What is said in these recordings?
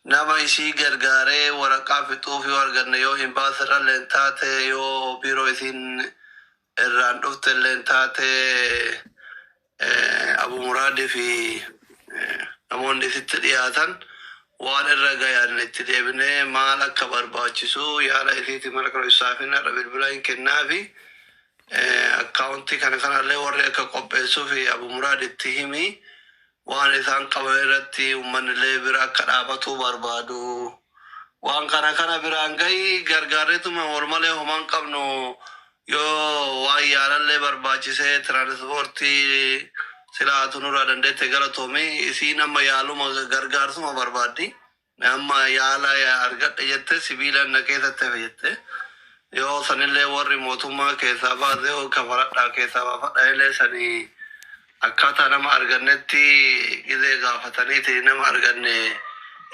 Nama isii gargaaree waraqaa fixuuf yoo arganne yoo hin baasirralleen taate yoo biiroo isiin irraan dhuftelleen taate Abuu Muraadii fi namoonni isitti dhiyaatan waan irra gayan itti deebinee maal akka barbaachisu yaada isiiti mara kana ibsaafin har'a bilbila hin kennaafi akkaawuntii kana kanallee warri akka qopheessuuf Abuu Muraad itti himi Waan isaan qaban irratti ummannillee bira akka dhaabatuu barbaadu. Waan kana kana biraan gahi gargaarrituma wal malee homa hin qabnu yoo waan yaalallee barbaachise tiraanispoortii sila atu nurraa dandeette galatoomi isiin amma yaaluma gargaarsuma barbaaddi. Mee amma yaala argadhe jette sibiilan na keessatti hafe jette yoo sanillee warri mootummaa keessaa baase yoo kafaradhaa keessaa baafadha illee sani akkaataa nama argannetti gizee gaafataniiti nama arganne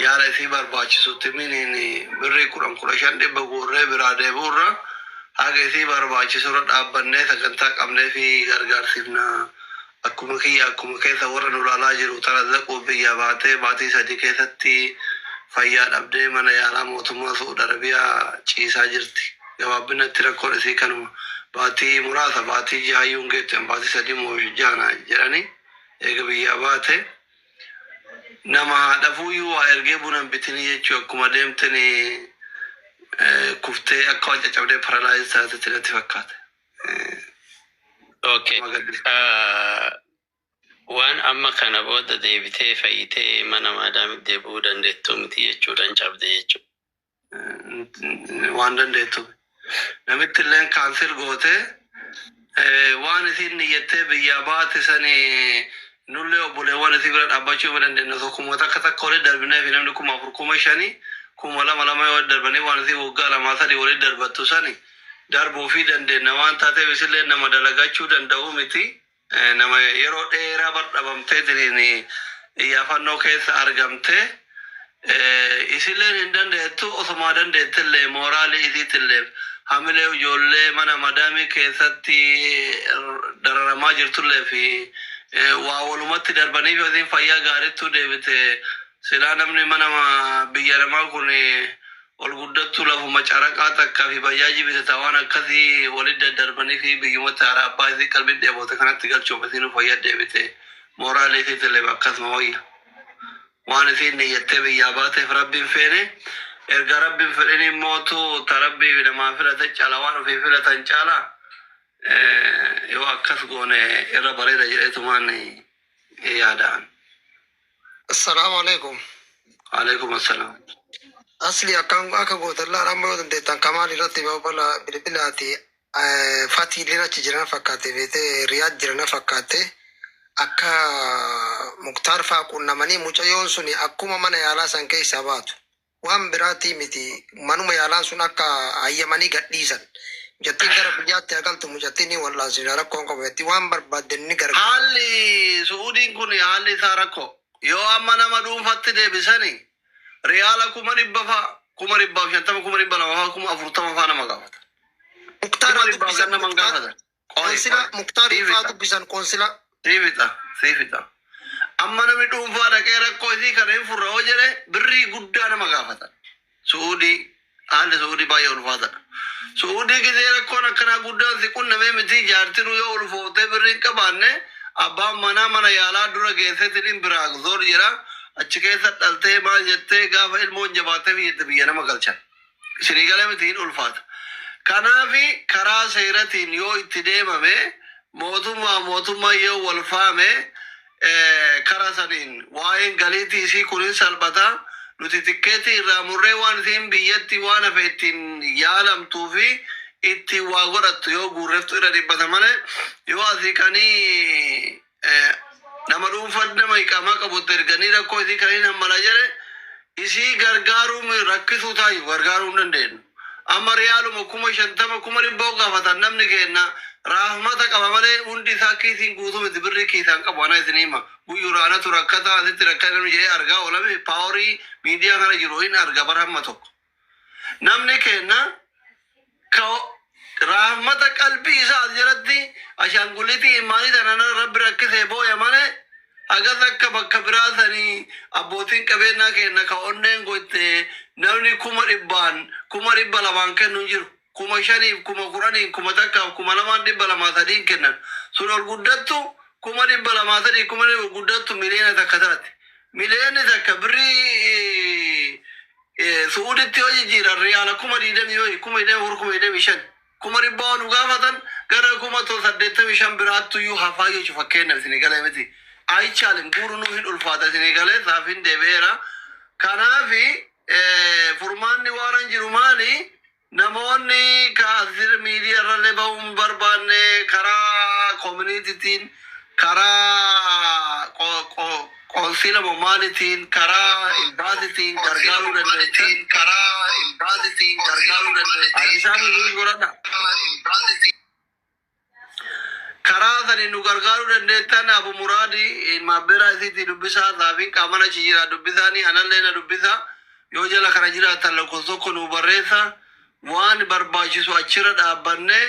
yaala isii barbaachisutti miniin birrii kudhan kudha shan dhibba guurree biraa deebi'urra haga isii barbaachisurra dhaabbannee sagantaa qabnee fi gargaarsifna Akkuma kiyya akkuma keessa warra nu laalaa jiru tarazaquuf biyyaa baatee baatii sadii keessatti fayyaa dhabdee mana yaalaa mootummaa su'ud arabiyaa ciisaa jirti gabaabbinatti rakkoon isii kanuma baatii muraasa baatii jahaayyuu hin geettu an baatii sadii moo jaha na jedhani eega biyyaa baate nama haadhafuuyyuu waa ergee buna hin bitini jechuu akkuma deemteni kuftee akka waan caccabdee paralaayiz taatetti natti fakkaate Okay. Ah, Waan amma kana booda deebitee fayyitee mana maadaamitti deebi'uu dandeettu miti jechuudhaan cabde jechuudha. waan dandeettu namitti illeen kaansil gootee eh, waan isiin niyyattee biyyaa baate sani nullee obboleewwan isii bira dhaabbachuu hin dandeenye osoo kuma takka takka walitti darbinee fi namni kuma afur kuma shanii kuma lama lama yoo walitti darbanii waan isii waggaa lamaa sadii walitti darbattu sani darbuufii dandeenna waan taateef isilleen nama dalagachuu danda'uu miti nama yeroo dheeraa bar dhabamteetiniin iyyaafannoo keessa argamte isilleen hin dandeettu osumaa dandeettellee mooraalii isiitilleef hamilee ijoollee mana madaamii keessatti dararamaa jirtulleef waa walumatti darbaniif yoo isiin fayyaa gaarittuu deebite silaa namni mana biyya namaa kun ol guddattu lafuma caraqaa takka fi bajaajii bitata waan akkasi walit daddarbanifi biyyuma taara abbaa isii qalbin dheebote kanatti galchuuf isiinu fayya deebite mooraalii isiitillee akkasuma wayya waan isiin niyyattee biyyaa baateef rabbiin feene erga rabbiin fedhin immootu ta rabbii fi namaa filate cala waan ofii filatan caala yoo akkas goone irra bareeda jedheetumaan yaadaan Assalamu alaikum. Alaikum assalam. Asli akkan akka gootan laala amma yoo dandeettan kamaal irratti babala bilbilaati fatii illeen achi jirana fakkaatte beete riyaad jirana fakkaatte akka muktaar faa qunnamanii mucayyoon suni akkuma mana yaalaa san keessaa baatu. Waan biraatii miti manuma yaalaa sun akka hayyamanii gadhiisan. Mucattiin gara biyyaatti haa galtu mucattii ni wal'aansifna rakkoon qabu jatti waan barbaadden ni gargaarra. Haalli Su'uudiin kun haalli isaa rakkoo. Yoo amma nama dhuunfatti deebisani riyaala kuma dhibba fa'a, kuma dhibbaaf shantama, kuma dhibba lama fa'a, kuma afurtama fa'a nama gaafatan. Muktaar Kuma haa dhibbaaf dubbisan ganna man Muktaar. gaafatan. Qoonsila Muktaar Ifaa dubbisan qoonsila. Sii fixa sii fixa. Amma namni dhuunfaa dhaqee rakkoo isii kana hin furra yoo jedhe birrii guddaa nama gaafatan. Su'uudii haalli su'uudii baay'ee ulfaatadha. Su'uudii gisee rakkoon akkanaa guddaan si qunnamee mitii jaartinuu yoo ulfooftee birrii hin qabaanne abbaan manaa mana yaalaa dura geessetiniin biraakzool jedha achi keessa dhaltee maal jettee gaafa ilmoon jabaattee fi jette biyya nama galchan. Isinii galee miti hin ulfaata. Kanaaf karaa seeratiin yoo itti deemame mootummaa mootummaa yoo wal faame eh, kara saniin waa'een galiitii isii kun hin salphata. Nuti tikkeetii irraa murree waan isiin biyyatti waan hafe ittiin yaalamtuu fi ittiin waa godhattu yoo guurreftu irra dhibbata malee yoo asii kanii Nama dhuunfan nama iqaamaa qabutti erganii rakkoo isii kan hin hammala jedhe isii gargaaruu mi- rakkisuu taayu gargaaruu hin dandeenyu. Amma riyaaluma kuma shantama kuma dhibba yoo gaafatan namni keenna raahmata qaba malee hundi isaa kiisiin guutuu miti birrii kiisaan qabu ana isin hima. Guyyuura anatu rakkataa asitti rakkaa namni jedhee argaa oolame paaworii miidiyaa kana jiru hin arga bar hamma tokko. Namni keenna ka rahmata qalbii isaa as jiratti ashaangulitii imaanii tanan irra Rabbi rakkisee booya malee hagas akka bakka biraa sanii abbootiin qabeennaa keenna ka onneen goyte namni kuma dhibbaan kuma dhibba lamaan kennu hin jiru. kuma shaniif, kuma kudhaniin, kuma takkaaf, kuma lamaan dhibba lamaa sadiin kennan. Sun ol guddattu kuma dhibba lamaa sadii, kuma ol guddattu miliyoona takka taati. Miliyoonni takka birrii Su'uuditti yoo jijjiiran riyaala kuma digdamii wayi, kuma digdamii afur, kuma digdamii shan. Kuma dhibbaa ol nu gaafatan gara kuma to saddeettamii shan biraattuyyuu hafaa jechu fakkeennaaf isinii galee miti. Ayichaalim guuruu nuuf hin ulfaata isinii galee saafin deebi'eera. Kanaafi. Furmaanni waaran jiru maali? Namoonni ka as jir miidiya irrallee bahuu hin barbaanne karaa koominiititiin, karaa qo- qo- qoonsiila moo maalitiin, karaa imbaasitiin gargaaruu dandeessan. Addisaan nuuf godhadha. Karaa saniin nu gargaaruu dandeettan Abu Muraad ilmaan beeraa isiitii dubbisaa Saafiin qaaman achi jira dubbisaanii anallee na dubbisaa yoo jala kana jiraattan lakkoofsa tokko nuu barreessa waan barbaachisu achirra dhaabbannee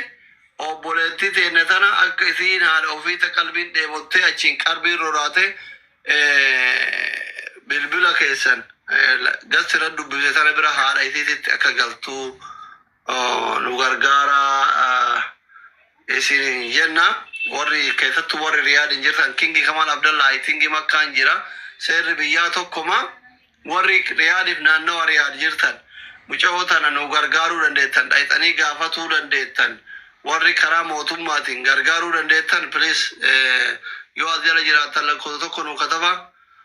obboleettii teenne tana akka isiin haadha ofii ta qalbiin dheebottee achiin qarbiin roraate eh, bilbila keessan eh, la- dassi irra dubbise tana bira haadha isiititti akka galtuu nu gargaara isin jenna warri keessattuu warri riyaad hin jirtan kingi kamal abdallaa i think makkaan jira seerri biyyaa tokkuma warri riyaadif naannawa riyaad jirtan muca'oo tana nu gargaaruu dandeettan dhayxanii gaafatuu dandeettan warri karaa mootummaatiin gargaaruu dandeettan please yoo as jala jiraattan lakkoofsa tokko nu kataba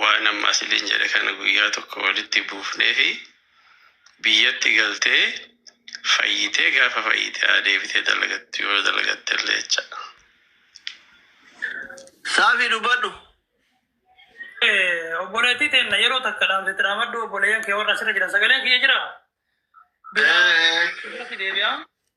Waan amma siniin jedhe kana guyyaa tokko walitti buufneefi biyyatti galtee fayyitee gaafa fayyite haa deebitee dalagattu yoo dalagattellee jechaadha. Saafi dubbadhu. Obboleettii teenna yeroo takka dhaamtetti dhaamadhu obboleeyyan kee warra asirra jiran sagaleen kiyya jira. Biraa deebi'a.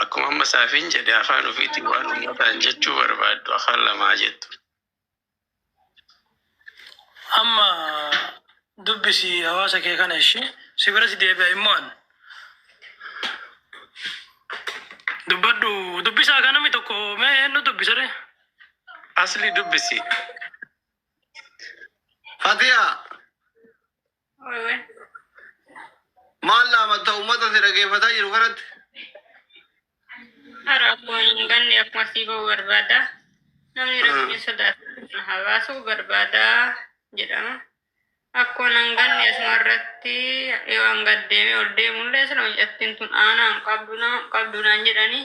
Akkuma amma Saafiin jedhe afaan ofiitiin waan ummataan jechuu barbaaddu afaan lama haa jettu. Amma dubbisi hawaasa kee kana ishee si biratti deebi'a immoo an dubbadhu dubbisaa kan namni tokko mee eenyu dubbisare Asli dubbisi. Fatiyaa. Maal laamatta uummata si dhageeffataa jiru kanatti? Hara akkuma hin ganne akkuma sii ba'u barbaada. Namni Hmm. rabbiin sodaatu na habaasuu barbaada jedhama. Akkuma nan ganne asuma irratti yoo an gad deemee ol deemullee sila mucattiin tun aanaa hin qabdu nama hin qabdu naan jedhanii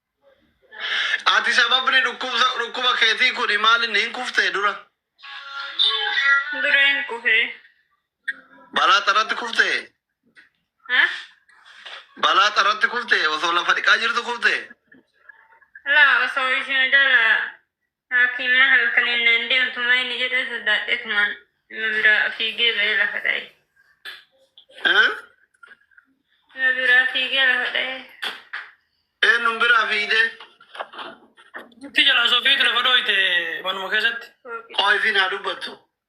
Ati sababni dhukkubsa- dhukkuba keetii kuni maal inni hin kuftee dura? Dura hin kufee. Balaa xarratti kuftee? Ha? Balaa xarratti kuftee? Osoo lafa dhiqaa jirtu kuftee? Laa osoo isheen jala Haakima halkaniin naan deemtu maa inni jedhee sodaadheetumaan ima biraa fiigee ba'ee lafa dha'e. Eh? Ima biraa fiigee lafa dha'e. Eenyuun biraa fiigdee? Itti jala sofiitu lafa dhooyte manuma keessatti. Fooqii. Qoy fi naa dubbattu.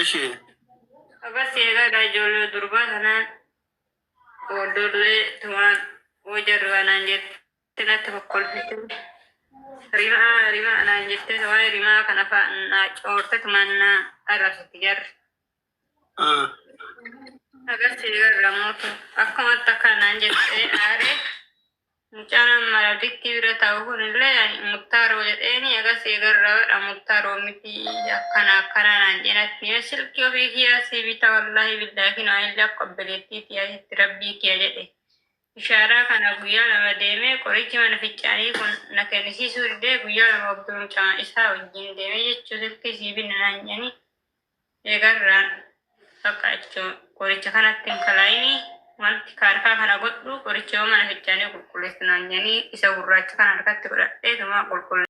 እሺ Abbas eegaadha ijoollee durbaa kanaan booddoollee tumaan hojii irraa naan jettee natti kokkolfite. Rimaa rimaa naan jettee waa'ee rimaa kana fa'aa naa coorte tumaan naa arrabsite jarri. ah, Abbas eegaadha mootu akkumatti akka naan jettee aaree Mucaan amma radittii bira taa'u kun illee ani muktaaroo jedheeni agas eegarra badha muktaaroo miti akkana akkanaa naan jeen atti mee silkii ofii kiyaa sii bita wallaahi billaahi kinoo ani illee akka obboleettii tiyaatitti rabbii kiya jedhe ishaaraa kana guyyaa lama deemee qorichi mana ficcaanii kun na kennisiisuu didee guyyaa lama obduu mucaa isaa wajjin deemee jechuu silkii sii binna naan jeeni Eegarraan bakka achi qoricha kanatti hin kalaini wanti kaarkaa kana godhu qoricha yoo mana fichaanii qulqulleessu naan jedhanii isa gurraacha kana harkatti godhadheetuma qulqulle.